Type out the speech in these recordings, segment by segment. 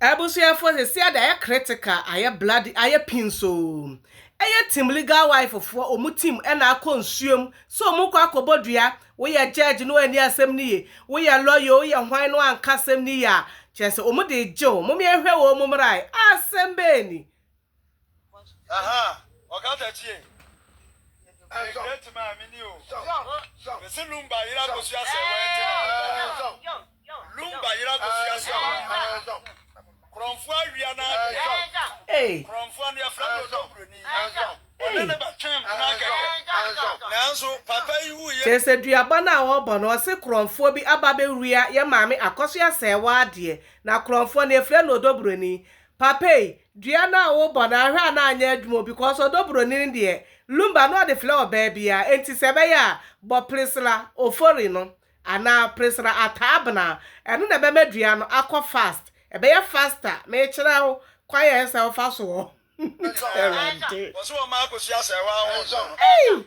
Abusuafoɔ sɛsi ade ayɛ critical ayɛ bloody ayɛ pins oo ɛyɛ team legal wife foɔ ɔmo team ɛna akɔ nsuo mu sɛ ɔmo kɔ akɔ bɔ dua woyɛ judge no anni asɛm no ye woyɛ lawyer oo woyɛ hwan no anka asɛm no ye a kyerɛ sɛ ɔmo de gye wo mom yɛnhwɛ wɔn mu mmra asɛm bɛɛ ni Kyerɛsɛ duaba no a wɔbɔ no ɔse korɔnfoɔ bi aba bɛwia yɛ maame akɔsoa sɛɛwaa deɛ na korɔnfoɔ no yɛfrɛ no odobroni Papa ei, dua no a wobɔ no anhwɛ a na anyɛ adwuma o because ɔdɔ buroni no deɛ, lumba no ɔde flɛ ɔbaa biara, enti sɛ ɛbɛyɛ a, bɔ Priscilla Ofori no anaa Priscilla Attah Abena, ɛno na ɛbɛma dua no akɔ fast, ɛbɛyɛ faster, mekyerɛ wo kwan a ɛsɛ sɛ wofa soɔ. Awurade. Ei!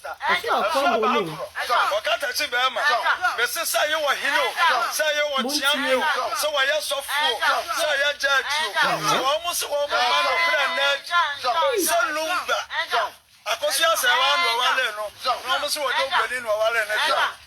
Ɔsoro akoma bɔ no o. Ɔkata si bɛɛma. Mese sɛ yɛ wɔ hene o. Sɛ yɛ wɔ kyeame o. Sɛ wɔ yɛ sɔfo o. Sɛ yɛ judge o. Sɛ wɔ mo se wɔ mo ma no kora nna adi. Sɛ lumba. Akosua sɛ wɔ ano wɔ wale no. Na wɔ mo se wɔ dɔ obroni no wɔ wale no deɛ.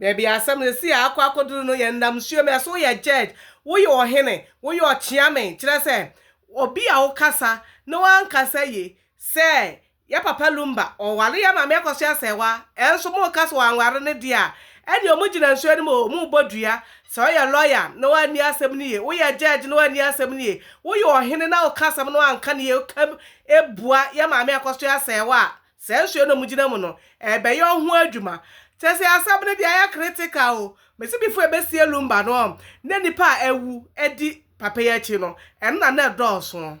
Baabi a asɛm seesei a akɔ akɔduru no yɛ nnam nsuo mu. Ɛso woyɛ judge, woyɛ ɔhene, woyɛ ɔkyeame, kyerɛ sɛ, obi a wokasa na wankasa yie sɛ, yɛ papa Lumba ɔware yɛ maame akɔso asɛewa, ɛnso moka sɛ wanware no deɛ a, ɛnneɛ wɔgyina nsuo no mu o, wɔbɔ dua. Sɛ woyɛ lawyer na wanni asɛm no yie, woyɛ judge na wanni asɛm no yie, woyɛ ɔhene na woka asɛm na wanka no yie, woka bua yɛ maame akɔso asɛewa a, Saa nsuo no a mogyina mu no, ɛrebɛyɛ ɔho adwuma. Kyerɛ sɛ asɛm no deɛ ayɛ critical o. Mese before ɛbɛsie Lumba no na nnipa a awu di papa yi akyi no, ɛno na na ɛdɔɔso.